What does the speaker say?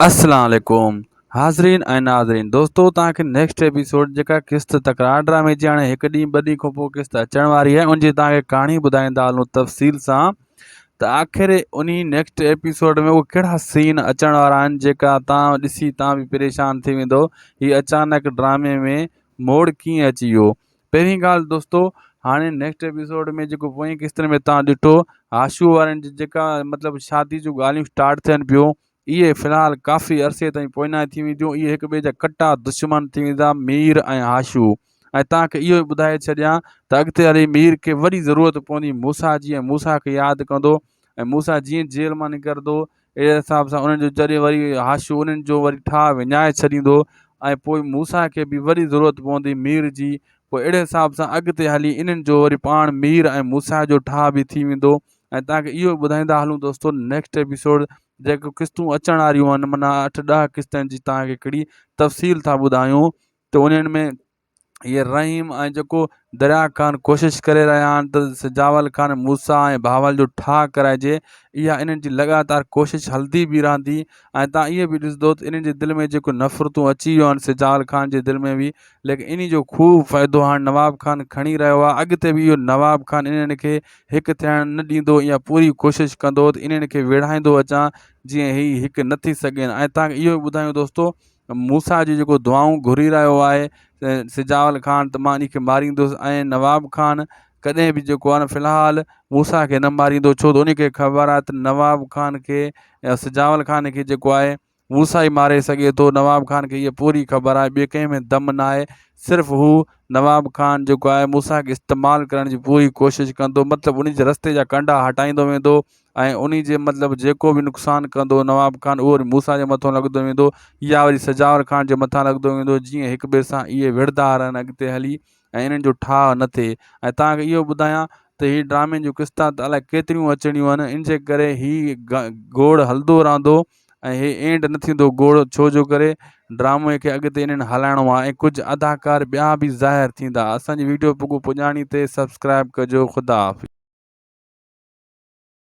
اسلام عليڪم حاضرين ۽ ناظرين دوستو توهان کي نيڪسٽ ايپيسوڊ جيڪا قسط تڪرار ڊرامي جي هاڻي هڪ ڏينهن ٻه ڏينهن کان پوء قسط اچڻ واري آهي ان جي توهان کي ڪهاڻي ٻڌائيندا هلون تفصيل سان ته آخر انهي نيڪسٽ ايپيسوڊ ۾ اهي ڪهڙا سين اچڻ وارا آهن جيڪا توهان ڏسي توهان به پريشان ٿي ويندو هي اچانڪ ڊرامي ۾ موڙ ڪيئن اچي ويو پهرين ڳالهه دوستو هاڻي نيڪسٽ ايپيسوڊ ۾ جيڪو پوئين قسطن ۾ تان ڏٺو هاشو وارن جي جيڪا مطلب شادي جون ڳالهيون اسٽارٽ ٿين پيون اهي في الحال ڪافي عرصي تائين پوئنائي ٿي وينديون اهي هڪ ٻئي جا ڪٽا دشمن ٿي ويندا مير ۽ هاشو ۽ تان کي اهو ٻڌائي ڇڏيان ته اڳتي هلي مير کي وڏي ضرورت پوندي موسا جي ۽ موسا کي ياد ڪندو ۽ موسا جيئن جيل مان نڪرندو اهڙي حساب سان انهن جو جڏهن وري حاشيو انهن جو وري ٺاهه وڃائي ڇڏيندو ۽ پوء موسيٰ کي به وري ضرورت پوندي مير جي پوء اهڙي حساب سان اڳتي هلي انهن جو وري پاڻ مير ۽ موسيٰ جو ٺاهه به ٿي ويندو ۽ توهان کي اهو ٻڌائيندا هلون دوستو نيڪسٽ ايپيسوڊ جيڪو قسطون اچڻ واريون آهن معنيٰ اٺ ڏهه قسطن جي توهان کي هڪڙي تفصيل ٿا ٻڌايون ته انهن ۾ هي رحيم ۽ جيڪو دريا خان ڪوشش ڪري رهيا آهن ته سجاول خان موسيٰ ۽ بهاول جو ٺاهه ڪرائجي اها انهن جي لڳاتار ڪوشش هلندي به رهندي ۽ توهان اهي به ڏسندو ته انهن جي دل ۾ جيڪو نفرتون اچي ويون آهن سجاول خان جي دل ۾ به ليڪن انهي جو خوب فائدو هاڻ نواب خان کڻي رهيو آهي اڳتي به اهو نواب خان انهن کي هڪ ٿيڻ نه ڏيندو اها پوري ڪوشش ڪندو ته انهن کي ويڙهائيندو اچان جيئن هي هڪ نه ٿي سگهين ۽ توهان کي اهو به ٻڌايون دوستو موسيٰ جي جيڪو دعائون گهري رهيو آهي سجاول خان ته مان ان کي ماريندس ۽ نواب خان ڪڏهن به جيڪو آهي نه في الحال موسيٰ کي نه ماريندو ڇو ته ان کي خبر آهي ته نواب خان کي يا سجاول خان کي جيڪو آهي موسيٰ ئي ماري سگهي ٿو نواب خان کي اها پوري خبر آهي ٻي ڪنهن ۾ دم نه آهي صرف هو نواب خان جيڪو آهي موسيٰ کي استعمال ڪرڻ جي پوري ڪوشش ڪندو مطلب ان جي رستي جا ڪنڊا هٽائيندو ويندو ۽ انهي جي مطلب جيڪو به نقصان ڪندو نواب خان اهو وري موسيٰ جي مٿو لڳندو ويندو يا وري سجاور خان جي مٿان لڳندو ويندو جيئن هڪ ٻئي سان اهي وڙهندا رهن اڳتي هلي ۽ انهن جو ٺاهه نه ٿئي ۽ توهان کي اهو ٻڌايان ته هي ڊرامي جون قسطان ته الائي ڪيتريون اچڻيون آهن ان جي ڪري هي گوڙ هلندو رهندو ۽ هي اينڊ نه ٿيندو گوڙ ڇو جو ڪري ڊرامي کي اڳتي انهن هلائڻو آهي ۽ ڪجهه اداڪار ٻيا به ظاهر ٿيندا اسان جي ويڊيو پڳو پڄاڻي تي سبسڪرائب ڪجو خدا حافظ.